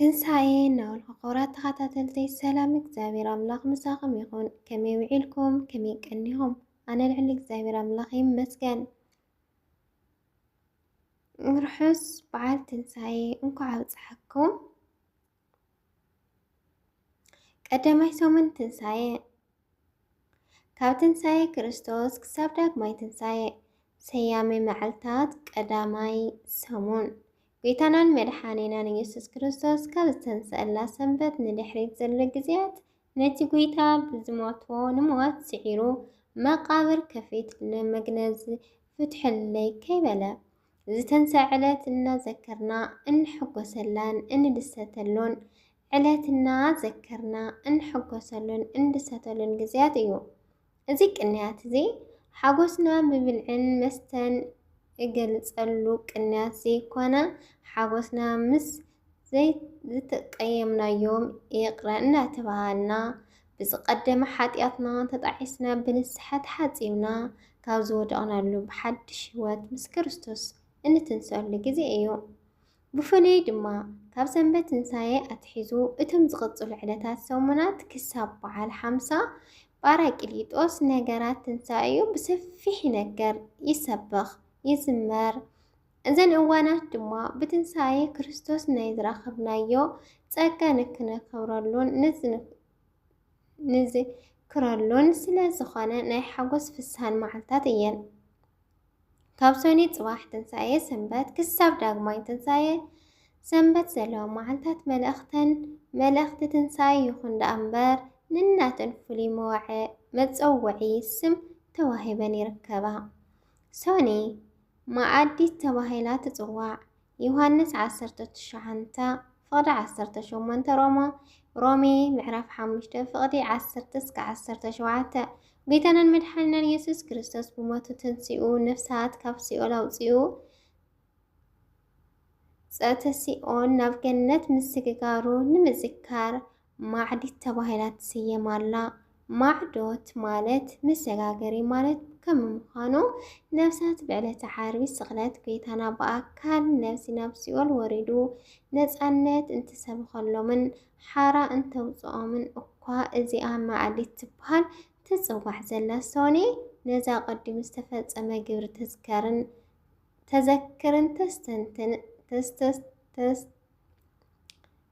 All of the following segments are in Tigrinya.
ትንሳኤ እናበልኩ ክቡራት ተኸታተልተይ ሰላም እግዚኣብሔር ኣምላኽ ምሳኹም ይኹን። ከመይ ውዒልኩም? ከመይ ቀኒኹም? ኣነ ልዕሊ እግዚኣብሔር ኣምላኽ ይመስገን። ርሑስ በዓል ትንሳኤ እንኳዕ ኣብፀሐኩም። ቀዳማይ ሰሙን ትንሳኤ ካብ ትንሣኤ ክርስቶስ ክሳብ ዳግማይ ትንሣኤ ሰያሜ መዓልታት ቀዳማይ ሰሙን ጌታናን መድሓኔናን ኢየሱስ ክርስቶስ ካብ ዝተንሰአላ ሰንበት ንድሕሪት ዘሎ ግዜያት ነቲ ጐይታ ብዝሞቶ ንሞት ስዒሩ መቃብር ከፊት ንመግነዝ ፍትሐለይ ከይበለ ዝተንሰዐ ዕለት እናዘከርና እንሕጎሰላን እንድሰተሎን ዕለት እና ዘከርና እንሕጎሰሉን እንድሰተሉን ግዝያት እዩ። እዚ ቅንያት እዚ ሓጎስና ብብልዕን መስተን እገልጸሉ ቅንያት ዘይኮነ ሓጎስና ምስ ዘይዝተቀየምናዮም ይቅረ እንዳተባሃልና ብዝቀደመ ሓጥያትና ተጣዒስና ብንስሓ ተሓጺብና ካብ ዝወደቅናሉ ብሓድሽ ሕይወት ምስ ክርስቶስ እንትንሰኣሉ ግዜ እዩ። ብፍሉይ ድማ ካብ ሰንበት ትንሳኤ ኣትሒዙ እቶም ዝቕጽሉ ዕለታት ሰሙናት ክሳብ በዓል ሓምሳ ጳራቅሊጦስ ነገራት ትንሳኤኡ ብሰፊሕ ይነገር፣ ይሰበኽ፣ ይዝመር። እዘን እዋናት ድማ ብትንሳኤ ክርስቶስ ናይ ዝረኸብናዮ ጸጋ ንክነከብረሉን ንዝክረሉን ስለ ዝኾነ ናይ ሓጎስ ፍስሃን መዓልታት እየን። ካብ ሰኑይ ጽባሕ ትንሳኤ ሰንበት ክሳብ ዳግማይ ትንሳኤ ሰንበት ዘለዋ መዓልታት መልእኽተን መልእኽቲ ትንሳኤ ይኹን ደኣ እምበር ንናተን ፍሉይ መወዐ መጸውዒ ስም ተዋሂበን ይርከባ። ሰኑይ መዓዲት ተባሂላ ትጽዋዕ። ዮሃንስ ዓሰርተ ትሽዓንተ ፍቕዲ ዓሰርተ ሸሞንተ ሮሞ ሮሜ ምዕራፍ ሓሙሽተ ፍቕዲ ዓሰርተ እስከ ዓሰርተ ሸውዓተ ጌታናን መድሓኒናን የሱስ ክርስቶስ ብሞቱ ትንሲኡ ነፍሳት ካብ ሲኦል ኣውፂኡ ጸተ ሲኦን ናብ ገነት ምስግጋሩ ንምዝካር ማዕዲት ተባሂላ ትስየም ኣላ። ማዕዶት ማለት መሰጋገሪ ማለት ከም ምዃኑ ነፍሳት ብዕለተ ዓርቢ ስቕለት ጐይታና ብኣካል ነብሲ ናብ ሲኦል ወሪዱ ነጻነት እንትሰብኸሎምን ሓራ እንተውጽኦምን እኳ እዚኣ ማዕዲት ትበሃል ትጽዋዕ ዘላ ሶኔ ነዛ ቀዲሙ ዝተፈጸመ ግብሪ ተዝከርን ተዘክርን ተስተንትን ተስተስተስ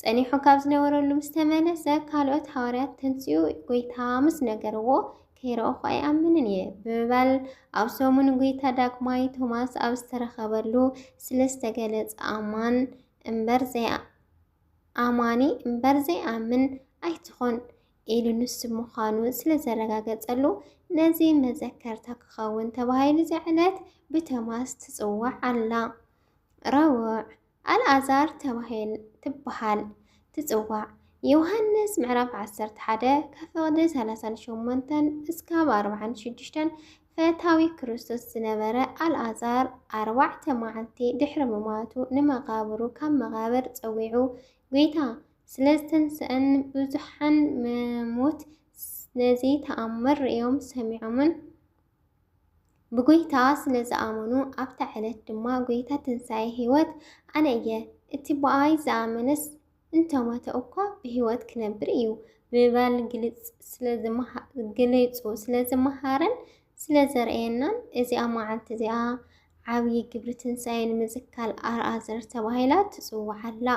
ጸኒሑ ካብ ዝነበረሉ ምስ ተመለሰ ካልኦት ሃዋርያት ተንስኡ ጐይታ ምስ ነገርዎ ከይረእኹ ኣይኣምንን እየ ብምባል ኣብ ሰሙን ጐይታ ዳግማይ ቶማስ ኣብ ዝተረኸበሉ ስለ ዝተገለጸ ኣማን እምበር ዘይኣማኒ እምበር ዘይኣምን ኣይትኾን ኢሉ ንሱ ምዃኑ ስለ ዘረጋገጸሉ ነዚ መዘከርታ ክኸውን ተባሂሉ እዚ ዕለት ብቶማስ ትጽዋዕ ኣላ። ረቡዕ ኣልኣዛር ተባሂል ትበሃል ትጽዋዕ። ዮሃንስ ምዕራፍ ዓሰርተ ሓደ ከፍቕዲ ሰላሳን ሸሞንተን እስካብ ኣርብዓን ሽዱሽተን ፈታዊ ክርስቶስ ዝነበረ ኣልኣዛር ኣርባዕተ መዓልቲ ድሕሪ ምማቱ ንመቓብሩ ካብ መቓብር ጸዊዑ ጐይታ ስለ ዝተንስኣን ብዙሓን መሞት ነዚ ተኣምር ርእዮም ሰሚዖምን ብጐይታ ስለ ዝኣመኑ፣ ኣብታ ዕለት ድማ ጐይታ ትንሳኤ ህይወት ኣነ እየ፣ እቲ ብኣይ ዝኣመነስ እንተ ሞተ እኳ ብህይወት ክነብር እዩ ብምባል ገሊጹ ስለ ዝመሃረን ስለ ዘርእየናን እዚኣ መዓልቲ እዚኣ ዓብዪ ግብሪ ትንሳኤ ንምዝካል ኣርኣዘር ተባሂላ ትጽዋዕ ኣላ።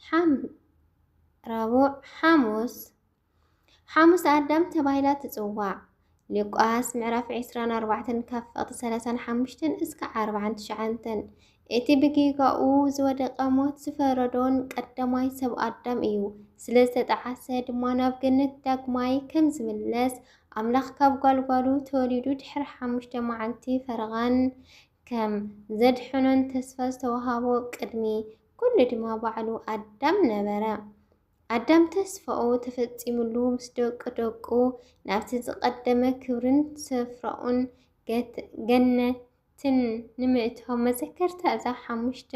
ሓም ረቡዕ ሓሙስ ሓሙስ ኣዳም ተባሂላ ትጽዋዕ። ሉቃስ ምዕራፍ 24 ካብ ፈቕቲ 35 እስከ 49 እቲ ብጌጋኡ ዝወደቀ ሞት ዝፈረዶን ቀዳማይ ሰብ ኣዳም እዩ። ስለ ዝተጠዓሰ ድማ ናብ ገነት ዳግማይ ከም ዝምለስ ኣምላኽ ካብ ጓልጓሉ ተወሊዱ ድሕሪ ሓሙሽተ መዓልቲ ፈረቓን ከም ዘድሕኖን ተስፋ ዝተዋሃቦ ቅድሚ ኩሉ ድማ ባዕሉ ኣዳም ነበረ። ኣዳም ተስፋኡ ተፈጺሙሉ ምስ ደቂ ደቁ ናብቲ ዝቐደመ ክብርን ስፍራኡን ገነትን ንምእታው መዘከርታ እዛ ሓሙሽተ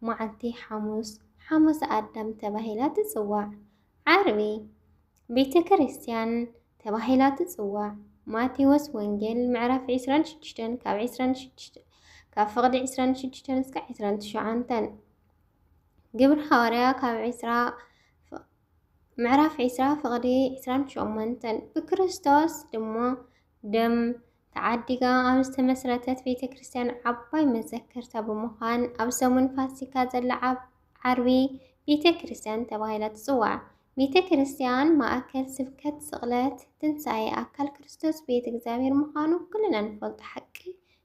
መዓልቲ ሓሙስ ሓሙስ ኣዳም ተባሂላ ትጽዋዕ። ዓርቢ ቤተ ክርስቲያን ተባሂላ ትጽዋዕ። ማቴዎስ ወንጌል ምዕራፍ 26 ካብ 26 ካብ ፍቕዲ 26 እስከ 29 ግብሪ ሃዋርያ ካብ ዕስራ ምዕራፍ ዕስራ ፍቕዲ ዕስራን ሸሞንተን ብክርስቶስ ድማ ደም ተዓዲጋ ኣብ ዝተመስረተት ቤተ ክርስቲያን ዓባይ መዘከርታ ብምዃን ኣብ ሰሙን ፋሲካ ዘላ ዓብ ዓርቢ ቤተ ክርስቲያን ተባሂላ ትጽዋዕ። ቤተ ክርስቲያን ማእከል ስብከት ስቕለት ትንሣኤ ኣካል ክርስቶስ ቤት እግዚኣብሔር ምዃኑ ኩልና ንፈልጦ ሓቂ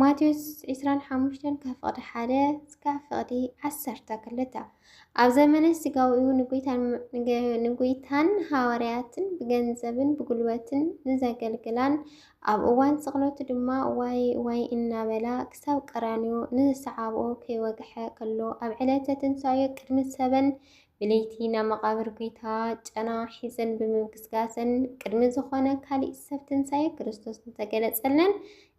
ማቴዎስ ዕስራን ሓሙሽተን ካብ ፍቕዲ ሓደ እስካብ ፍቕዲ ዓሰርተ ክልተ ኣብ ዘመነ ስጋዊኡ ንጎይታን ሃዋርያትን ብገንዘብን ብጉልበትን ንዘገልግላን ኣብ እዋን ስቕለቱ ድማ ዋይ ዋይ እናበላ ክሳብ ቀራንዮ ንዝሰዓብኦ ከይወግሐ ከሎ ኣብ ዕለተ ትንሳኤ ቅድሚ ሰበን ብለይቲ ናብ መቓብር ጐይታ ጨና ሒዘን ብምግስጋሰን ቅድሚ ዝኾነ ካሊእ ሰብ ትንሣኤ ክርስቶስ እንተገለጸለን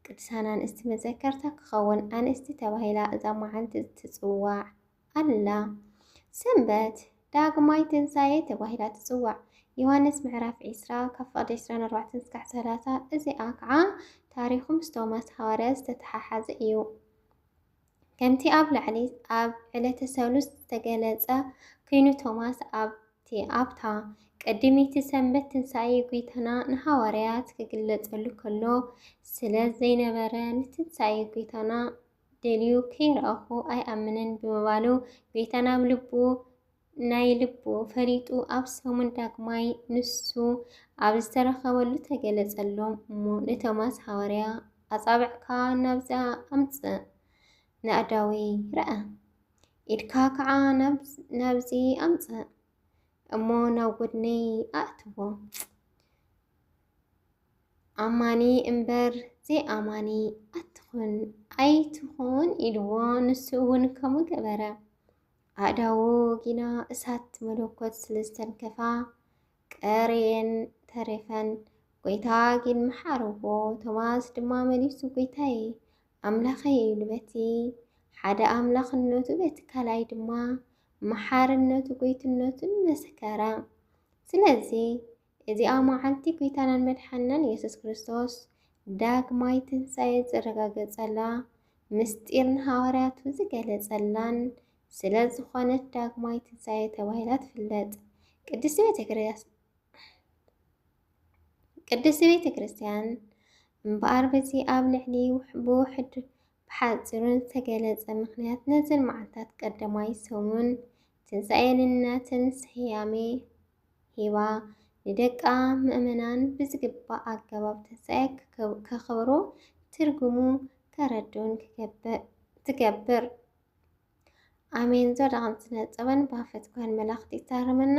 ቅድሳን ኣንስቲ መዘከርታ ክኸውን ኣንስቲ ተባሂላ እዛ መዓልቲ ትጽዋዕ ኣላ። ሰንበት ዳግማይ ትንሳኤ ተባሂላ ትጽዋዕ። ዮሃንስ ምዕራፍ ዒስራ ካብ ፍቕዲ ዕስራን ኣርባዕተን እስካዕ ሰላሳ እዚኣ ከዓ ታሪኹ ምስ ቶማስ ሃዋርያ ዝተተሓሓዘ እዩ። ከምቲ ኣብ ላዕሊ ኣብ ዕለተ ሰሉስ ዝተገለጸ ኩይኑ ቶማስ ኣብቲ ኣብታ ቀዲመይቲ ሰንበት ትንሳኤ ጒይታና ንሃዋርያት ክግለጸሉ ከሎ ስለ ዘይነበረ ንትንሳኤ ጒይታና ደልዩ ከይረኣኹ ኣይኣምንን ብምባሉ ጒይታና ኣብ ልቡ ናይ ልቡ ፈሊጡ ኣብ ሰሙን ዳግማይ ንሱ ኣብ ዝተረኸበሉ ተገለጸሎም እሞ ንቶማስ ሃዋርያ ኣጻብዕካ ናብዛ ኣምጽእ ናእዳዊ ረኣ ኢድካ ከዓ ናብዚ ኣምጽእ እሞ ናብ ጎድነይ ኣእትዎ ኣማኒ እምበር ዘይኣማኒ ኣትኹን ኣይትኹን ኢልዎ ንሱ እውን ከምኡ ገበረ። ኣእዳዉ ጊና እሳት መለኮት ስለ ዝተንከፋ ቀርየን ተሪፈን። ጐይታ ግን መሓርዎ፣ ቶማስ ድማ መሊሱ ጐይታየ፣ ኣምላኸይ ኢሉ በቲ ሓደ ኣምላኽነቱ በቲ ካልኣይ ድማ መሓርነቱ ጐይትነቱን መሰከረ። ስለዚ እዚኣ መዓልቲ ጒይታናን መድሓንናን የሱስ ክርስቶስ ዳግማይ ትንሣኤ ዝረጋገጸላ፣ ምስጢር ንሃዋርያቱ ዝገለጸላን ስለ ዝኾነት ዳግማይ ትንሣኤ ተባሂላ ትፍለጥ። ቅድስቲ ቤተ ክርስቲያን ቅድስቲ ቤተ ክርስቲያን እምበኣር በዚ ኣብ ልዕሊ ብውሕድ ብሓፂሩን ዝተገለፀ ምክንያት ነዘን መዓልታት ቀዳማይ ሰሙን ትንሣኤ ንናተን ስያሜ ሂባ ንደቃ ምእመናን ብዝግባእ ኣገባብ ትንሣኤ ከኽብሩ ትርጉሙ ከረድኡን ትገብር። ኣሜን ዞዳቕን ስነ ጥበን ባፈት ጓል መላኽቲ ይታረመና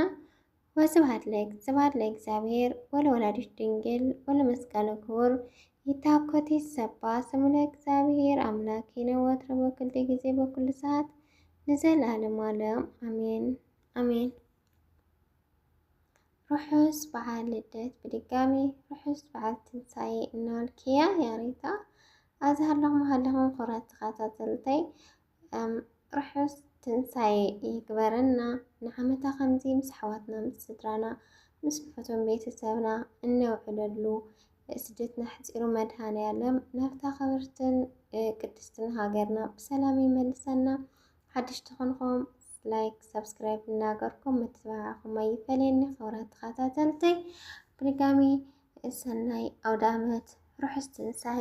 ወስብሐት ለእግዚብሔር ለእግዚኣብሔር ወለወላዲቱ ድንግል ወለመስቀሉ ክቡር ይታኮት ይሰባ ስሙ ለእግዚኣብሔር አምላኪነ ወትረ በኩሉ ጊዜ በኩሉ ሰዓት ንዘለዓለሙ ዓለም አሜን አሜን። ርሑስ በዓል ልደት ብድጋሚ ርሑስ በዓል ትንሳኤ እናበልክያ ያሬታ ኣዝሃለኹም ሃለኹም ክብራት ተኸታተልተይ ርሑስ ትንሳኤ ይግበረና ንዓመታ ከምዚ ምስ ኣሕዋትና ምስ ስድራና ምስ ፈቶም ቤተሰብና እነውዕለሉ ስደትና ሕፂሩ መድሃንያለም ናብታ ክብርትን ቅድስትን ሃገርና ብሰላም ይመልሰና። ሓድሽ ትኾንኹም ላይክ ሰብስክራይብ እናገርኩም ምትብባዕኹም ኣይፈለየኒ። ክብራት ተኸታተልተይ ብድጋሚ ሰናይ ኣውደ ዓመት ርሑስ ትንሳኤ